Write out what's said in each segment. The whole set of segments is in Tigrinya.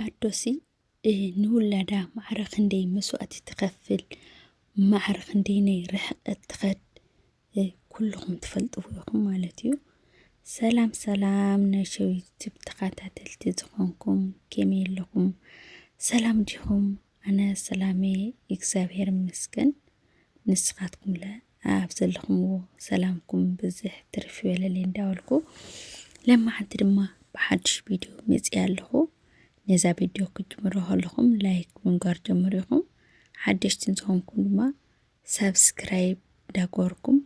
ኣዶሲ ንውላዳ ማዕረ ክንደይ መስዋእቲ ትኸፍል፣ ማዕረ ክንደይናይ ርሕቐት ትኸድ ኩልኹም ትፈልጥዎ ኢኹም ማለት እዩ። ሰላም ሰላም ናይ ሸው ዩቱብ ተኸታተልቲ ዝኾንኩም ከመይ ኣለኹም? ሰላም ዲኹም? ኣነ ሰላሜ እግዚኣብሔር ይመስገን። ንስኻትኩምለ ኣብ ዘለኹምዎ ሰላምኩም ብዝሕ ትርፍ ይበለለይ እንዳበልኩ ለማዓንቲ ድማ ብሓድሽ ቪድዮ መፅያ ኣለኹ ነዛ ቪድዮ ክትጅምሮ ከለኹም ላይክ ብምግባር ጀምሩ ኢኹም ሓደሽቲ እንዝኾንኩም ድማ ሳብስክራይብ እንዳገበርኩም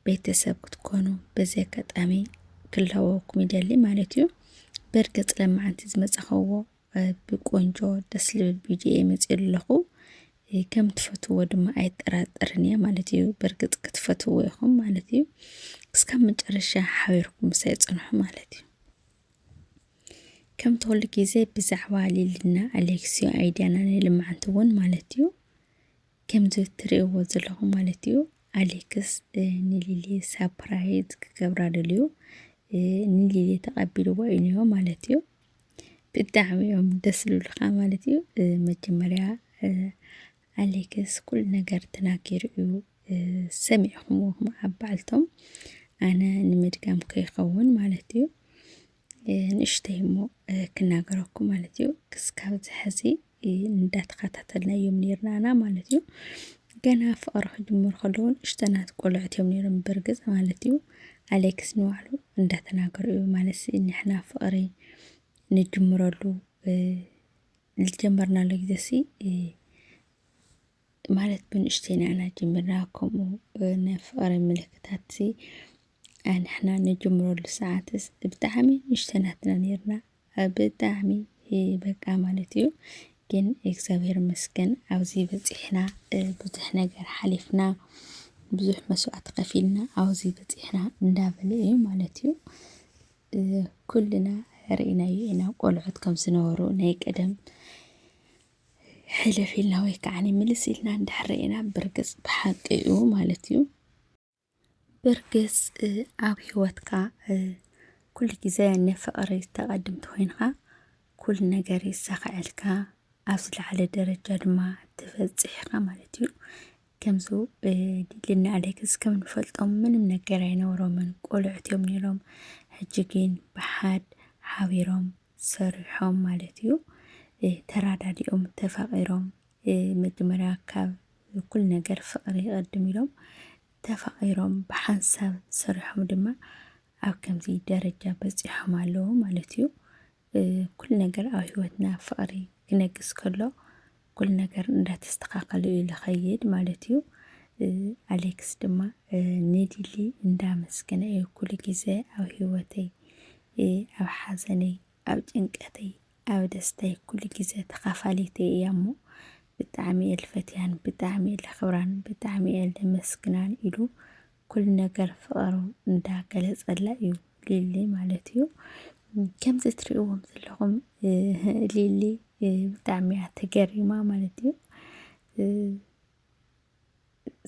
ቤተሰብ ክትኮኑ በዚ ኣጋጣሚ ክላወኩም ይደሊ ማለት እዩ። ብርግፅ ለማዓንቲ ዝመፃኸዎ ብቆንጆ ደስ ልብል ቪድዮ እየ መፅኡ ኣለኹ ከም ትፈትዎ ድማ ኣይጠራጠርን እየ ማለት እዩ በእርግጥ ክትፈትዎ ኢኹም ማለት እዩ እስካብ መጨረሻ ሓቢርኩም ምሳይ ፅንሑ ማለት እዩ ከም ተወሉ ግዜ ብዛዕባ ሊልና ኣሌክስዮ ኣይድያና ናይ ልምዓንቲ እውን ማለት እዩ ከምዚ ትርእይዎ ዘለኹም ማለት እዩ ኣሌክስ ንሊሊ ሳፕራይዝ ክገብራ ደልዩ ንሊሊ ተቐቢልዎ እዩ ማለት እዩ ብጣዕሚ እዮም ደስ ዝብሉካ ማለት እዩ መጀመርያ ኣሌክስ ኩሉ ነገር ተናጊሩ እዩ ሰሚዕኹምዎ ኣብ በዓልቶም ኣነ ንምድጋም ከይኸውን ማለት እዩ ንእሽተይ እሞ ክናገረኩም ማለት እዩ ክስካብ ዝሐዚ እንዳተኸታተልና እዮም ነይርና ኣና ማለት እዩ ገና ፍቕሪ ክጅምሩ ከለዉ ንእሽተናት ቆልዑት እዮም ነይሮም ብርግፅ ማለት እዩ ኣሌክስ ንባዕሉ እንዳተናገሩ እዩ ማለት ንሕና ፍቕሪ ንጅምረሉ ዝጀመርናሉ ጊዜ ሲ ማለት ብንእሽተይና ኢና ጀሚርና ከምኡ ናይ ፍቕሪ ምልክታት ኣንሕና ንጅምረሉ ሰዓትስ ብጣዕሚ ንእሽተናት ኢና ኔርና ብጣዕሚ በቃ ማለት እዩ ግን እግዚኣብሔር ይመስገን ኣብዚ በፂሕና ብዙሕ ነገር ሓሊፍና ብዙሕ መስዋዕቲ ከፊልና ኣብዚ በፂሕና እንዳበለ እዩ ማለት እዩ ኩልና ርኢናዮ ኢና ቆልዑት ከም ዝነበሩ ናይ ቀደም ሕልፍ ኢልና ወይ ከዓ ምልስ ኢልና እንድሕር ርኢና ብርግፅ ብሓቂ እዩ ማለት እዩ ብርግጽ ኣብ ሂወትካ ኩሉ ግዜ ንፍቅሪ ተቀድም ተኾይንኻ ኩሉ ነገር ይሳኸዐልካ ኣብ ዝለዓለ ደረጃ ድማ ትበጽሕ ኢኻ ማለት እዩ። ከምዚ ሊሊ ኣሌክስ ከም እንፈልጦም ምንም ነገር ኣይነበሮምን ቆልዑት እዮም ነይሮም። ሕጂ ግን ብሓድ ሓቢሮም ሰሪሖም ማለት እዩ። ተራዳዲኦም ተፋቂሮም መጀመርያ ካብ ኩሉ ነገር ፍቕሪ ይቐድም ኢሎም ተፋቒሮም ብሓንሳብ ሰሪሖም ድማ ኣብ ከምዚ ደረጃ በፂሖም ኣለዉ ማለት እዩ። ኩሉ ነገር ኣብ ህይወትና ፍቕሪ ክነግስ ከሎ ኩሉ ነገር እንዳተስተኻኸለ እዩ ዝኸይድ ማለት እዩ። ኣሌክስ ድማ ንዲሊ እንዳመስገነ እዩ ኩሉ ግዜ ኣብ ህይወተይ፣ ኣብ ሓዘነይ፣ ኣብ ጭንቀተይ፣ ኣብ ደስተይ ኩሉ ግዜ ተካፋሊተይ እያ እሞ ብጣዕሚ እየ ልፈትያን ብጣዕሚ እየ ለክብራን ብጣዕሚ እየ ለመስግናን ኢሉ ኩሉ ነገር ፍቐሩ እንዳ ገለጸላ እዩ ሊሊ ማለት እዩ ከምዚ እትሪእዎም ዘለኹም ሊሊ ብጣዕሚ እያ ተገሪማ ማለት እዩ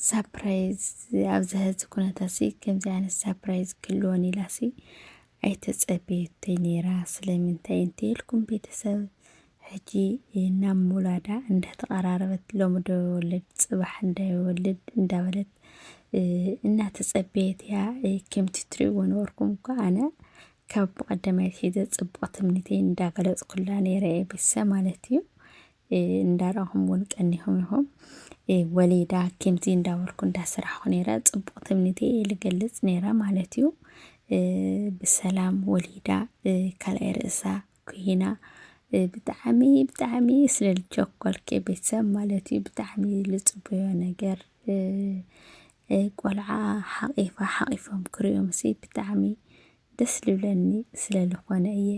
ሳፕራይዝ ኣብዚ ሕዚ ኩነታሲ ከምዚ ዓይነት ሳፕራይዝ ክህልወን ኢላሲ ኣይተጸበየቶይ ነይራ ስለምንታይ እንተይልኩም ቤተሰብ ሕጂ ናብ ምውላዳ እንዳተቐራረበት ሎሚ ዶ ይወልድ ጽባሕ እንዳይወልድ እንዳበለት እናተጸበየት እያ ከምቲ ትሪእዎ ነበርኩም እኳ ኣነ ካብ ብቐዳማይ ሒዘ ጽቡቕ ትምኒተይ እንዳገለጽኩላ ነይረ ቤተሰብ ማለት እዩ እንዳራኹም ውን ቀኒኹም ኢኹም። ወሊዳ ከምዚ እንዳበልኩ እንዳሰራሕኩ ነይረ ጽቡቅ ትምኒት እየ ልገልጽ ነይረ ማለት እዩ። ብሰላም ወሊዳ ካልኣይ ርእሳ ኩይና ብጣዕሚ ብጣዕሚ ስለ ልቸኮልኪ ቤተሰብ ማለት እዩ ብጣዕሚ ልጽበዮ ነገር ቆልዓ ሓቂፋ ሓቂፎም ክርእዮምሲ ብጣዕሚ ደስ ልብለኒ ስለ ልኾነ እየ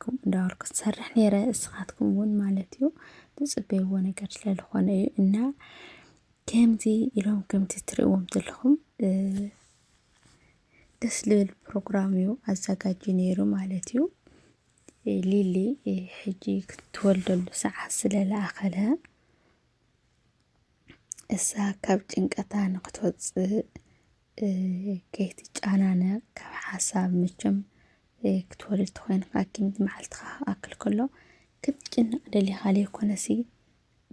ከምኡ እንዳበልኩ ዝሰርሕ ነይረ እስኻትኩም እውን ማለት እዩ ትፅበይዎ ነገር ስለ ልኾነ እዩ እና ከምዚ ኢሎም ከምቲ ትርእዎም ዘለኹም ደስ ልብል ፕሮግራም እዩ ኣዘጋጁ ነይሩ ማለት እዩ ሊሊ ሕጂ ክትወልደሉ ሰዓት ስለ ለኣኸለ እሳ ካብ ጭንቀታ ንክትወፅእ ከይትጨናነቕ ካብ ሓሳብ መቸም ክትወርድ ተኾይንካ ግን መዓልትኻ ክኣክል ከሎ ክትጭነቕ ደሊኻ ዘይኮነሲ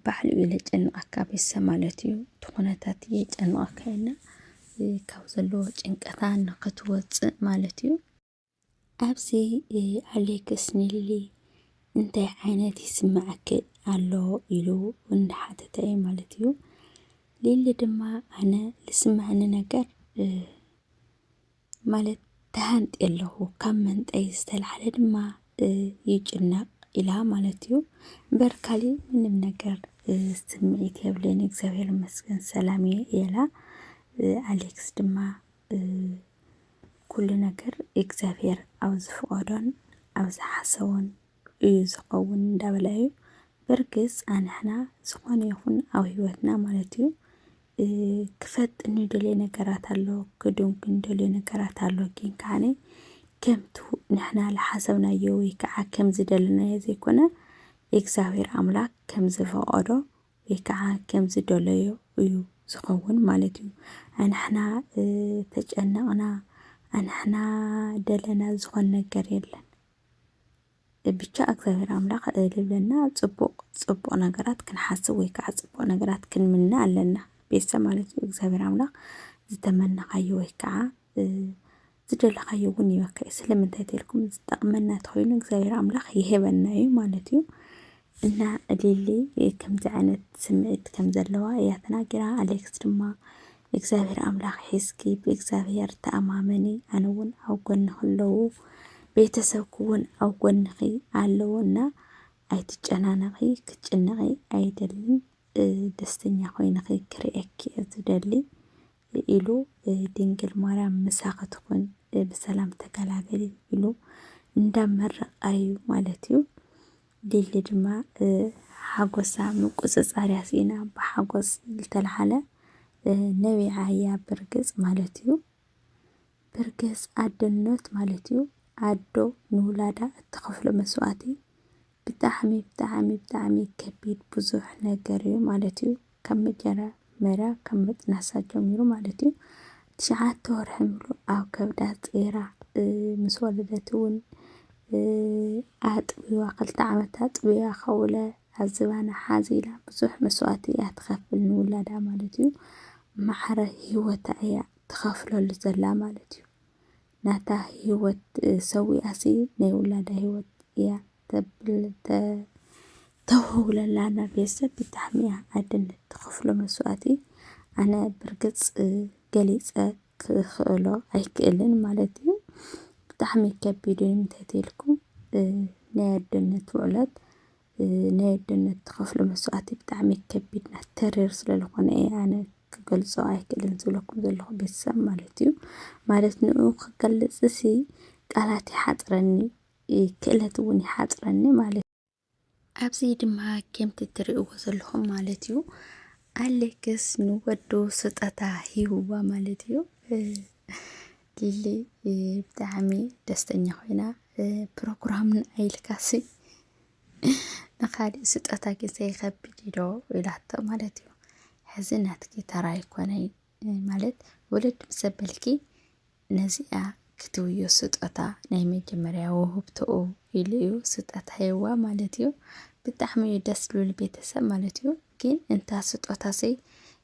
ባዕሉ እዩ ዘጨንቐካ ቤተሰብ ማለት እዩ እቲ ኩነታት የጨንቐካ እዩና ካብ ዘለዎ ጭንቀታ ንኽትወፅእ ማለት እዩ። ኣብዚ ኣሌክስ ኒሊ እንታይ ዓይነት ይስምዓኪ ኣሎ ኢሉ እንዳሓተተ እዩ ማለት እዩ። ሊሊ ድማ ኣነ ልስምዐኒ ነገር ማለት ተሃንጢ ኣለኹ ካብ መንጠይ ዝተላዕለ ድማ ይጭነቕ ኢላ ማለት እዩ። እምበር ካሊእ ምንም ነገር ስምዒት የብለይን እግዚኣብሔር ይመስገን ሰላም እየ ኢላ ኣሌክስ ድማ ኩሉ ነገር እግዚኣብሔር ኣብ ዝፍቐዶን ኣብ ዝሓሰቦን እዩ ዝኸውን እንዳበለ እዩ። በርግፅ ኣንሕና ዝኾነ ይኹን ኣብ ህይወትና ማለት እዩ ክፈጥ እንደልዮ ነገራት ኣሎ ክዱን ክንደልዮ ነገራት ኣሎ ግን ከዓነ ከምቱ ንሕና ዝሓሰብናዮ ወይ ከዓ ከም ዝደለናዮ ዘይኮነ እግዚኣብሔር ኣምላክ ከም ዝፈቐዶ ወይ ከዓ ከም ዝደለዮ እዩ ዝኸውን ማለት እዩ። ኣንሕና ተጨነቕና ኣንሕና ደለና ዝኾን ነገር የለን። ብቻ እግዚኣብሔር ኣምላኽ ልብለና ጽቡቕ ጽቡቕ ነገራት ክንሓስብ ወይ ከዓ ጽቡቕ ነገራት ክንምነ ኣለና ቤተሰብ ማለት እዩ። እግዚኣብሔር ኣምላኽ ዝተመነኻዮ ወይ ከዓ ዝደለኻዮ እውን ይበካ እዩ ስለምንታይ ተልኩም ዝጠቕመና ተኾይኑ እግዚኣብሔር ኣምላኽ ይህበና እዩ ማለት እዩ እና ሊሊ ከምዚ ዓይነት ስምዒት ከም ዘለዋ እያ ተናጊራ ኣሌክስ ድማ እግዚኣብሔር ኣምላኽ ሒዝኪ ብእግዚኣብሔር ተኣማመኒ ኣነ እውን ኣብ ጎንኺ ኣለዉ ቤተሰብኪ እውን ኣብ ጎንኺ ኣለዉ እና ኣይትጨናነቒ ክትጭነቒ ኣይደልን ደስተኛ ኮይንኺ ክርእየኪ እየ ዝደሊ ኢሉ ድንግል ማርያም ምሳኺ ትኹን ብሰላም ተገላገሊ ኢሉ እንዳመረቓዩ ማለት እዩ። ሊሊ ድማ ሓጎሳ ምቁፅፃር ያስኢና ብሓጎስ ዝተልዓለ ነቢዓ እያ ብርግፅ ማለት እዩ። ብርገጽ ኣደኖት ማለት ዩ ኣዶ ንውላዳ እትኸፍሎ መስዋእቲ ብጣዕሚ ብጣዕሚ ብጣዕሚ ከቢድ ብዙሕ ነገር ዩ ማለት ዩ ካብ መጀመርያ ካብ ምጥናሳ ጀሚሩ ማለት ዩ ትሽዓተ ወርሒ ሙሉእ ኣብ ከብዳ ጼራ ምስ ወለደት ውን ኣጥብዋ ክልተ ዓመት ኣጥብያ ከውለ ኣብ ዝባና ሓዚላ ብዙሕ መስዋእቲ እያ ትኸፍል ንውላዳ ማለት ዩ ማዕረ ሂወታ እያ ተካፍለሉ ዘላ ማለት እዩ ናታ ሂወት ሰዊኣሲ ናይ ውላዳ ሂወት እያ ተብል ተ ተውህውለላ ናብ ቤተሰብ ብጣዕሚ እያ ኣደነት ትኸፍሎ መስዋእቲ ኣነ ብርግጽ ገሊጸ ክኽእሎ ኣይክእልን ማለት እዩ ብጣዕሚ ከቢድ እዩ እንተትልኩም ናይ ኣደነት ውዕለት ናይ ኣደነት ትኸፍሎ መስዋእቲ ብጣዕሚ ከቢድና ተሪር ስለዝኾነ እየ ኣነ ክገልጾ ኣይክእልን ዝብለኩም ዘለኹ ቤተሰብ ማለት እዩ ማለት ንኡ ክገልጽ እሲ ቃላት ይሓፅረኒ ክእለት እውን ይሓፅረኒ ማለት ኣብዚ ድማ ከምቲ ትርእይዎ ዘለኹም ማለት እዩ ኣሌክስ ንወዱ ስጠታ ሂብዋ ማለት እዩ ሊሊ ብጣዕሚ ደስተኛ ኮይና ፕሮግራም ንዓይ ኢልካሲ ንኻሊእ ስጦታ ግዘ ይኸብድ ዶ ኢላቶ ማለት እዩ። ሕዚ ናትኪ ተራ ኣይኮነይ ማለት ወለድ ምስ ኣበልኪ ነዚኣ ክትውዮ ስጦታ ናይ መጀመርያ ውህብቶኡ ኢሉ እዩ ስጦታ ሂብዋ ማለት እዩ። ብጣዕሚ እዩ ደስ ዝብል ቤተሰብ ማለት እዩ። ግን እንታ ስጦታ ዘይ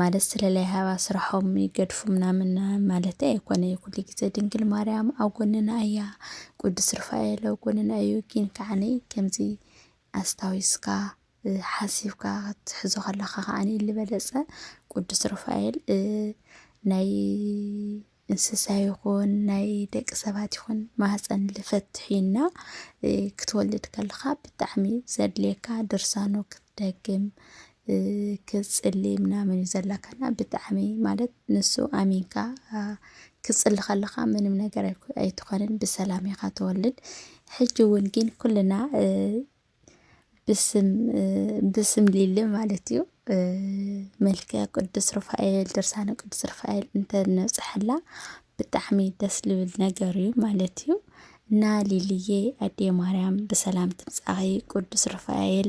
ማለት ስለ ለይሃባ ስራሖም ይገድፉ ምናምን ማለተይ ኣይኮነይ ኩሉ ግዜ ድንግል ማርያም ኣብ ጎንና እያ ቅዱስ ርፋኤል ኣብ ጎንና እዩ ግን ከዓኒ ከምዚ ኣስታዊስካ ሓሲብካ ክትሕዞ ከለካ ከዓኒ ልበለፀ ቅዱስ ርፋኤል ናይ እንስሳ ይኹን ናይ ደቂ ሰባት ይኹን ማህፀን ልፈትሕ እና ክትወልድ ከለኻ ብጣዕሚ ዘድልየካ ድርሳኖ ክትደግም ክትፅሊ ምናምን እዩ ዘላካና ብጣዕሚ ማለት ንሱ ኣሚንካ ክትፅሊ ከለኻ ምንም ነገር ኣይኮ- ኣይትኾንን ብሰላም ኢኻ ትወልድ ሕጂ እውን ግን ኩልና ብስም ብስም ሊሊ ማለት እዩ መልከ ቅዱስ ሩፋኤል ድርሳነ ቅዱስ ሩፋኤል እንተነብፅሐላ ብጣዕሚ ደስ ልብል ነገር እዩ ማለት እዩ እና ሊልዬ ኣዴ ማርያም ብሰላም ትምፃኺ ቅዱስ ሩፋኤል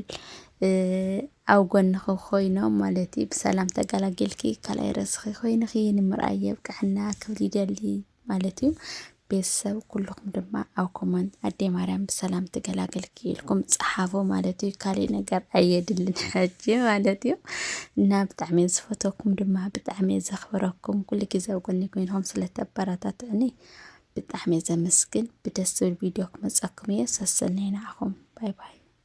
ኣብ ጎንኺ ኮይኖም ማለት እዩ ብሰላም ተገላጊልኪ ካልኣይ ርእስኺ ኮይንኺ ንምርኣይ የብቅዐና ክብል ይደሊ። ማለት እዩ ቤተሰብ ኩልኹም ድማ ኣብ ኮመንት ኣዴ ማርያም ብሰላም ትገላገልኪ ኢልኩም ፀሓፉ ማለት እዩ ካሊእ ነገር ኣየድልን ሕጂ ማለት እዩ እና ብጣዕሚ ዝፈተኩም ድማ ብጣዕሚ ዘኽብረኩም ኩሉ ግዜ ኣብ ጎኒ ኮይንኩም ስለተበረታትዕኒ ብጣዕሚ ዘመስግን ብደስ ዝብል ቪድዮ ክመፀኩም እየ ሰሰነይ ንዓኹም ባይ ባይ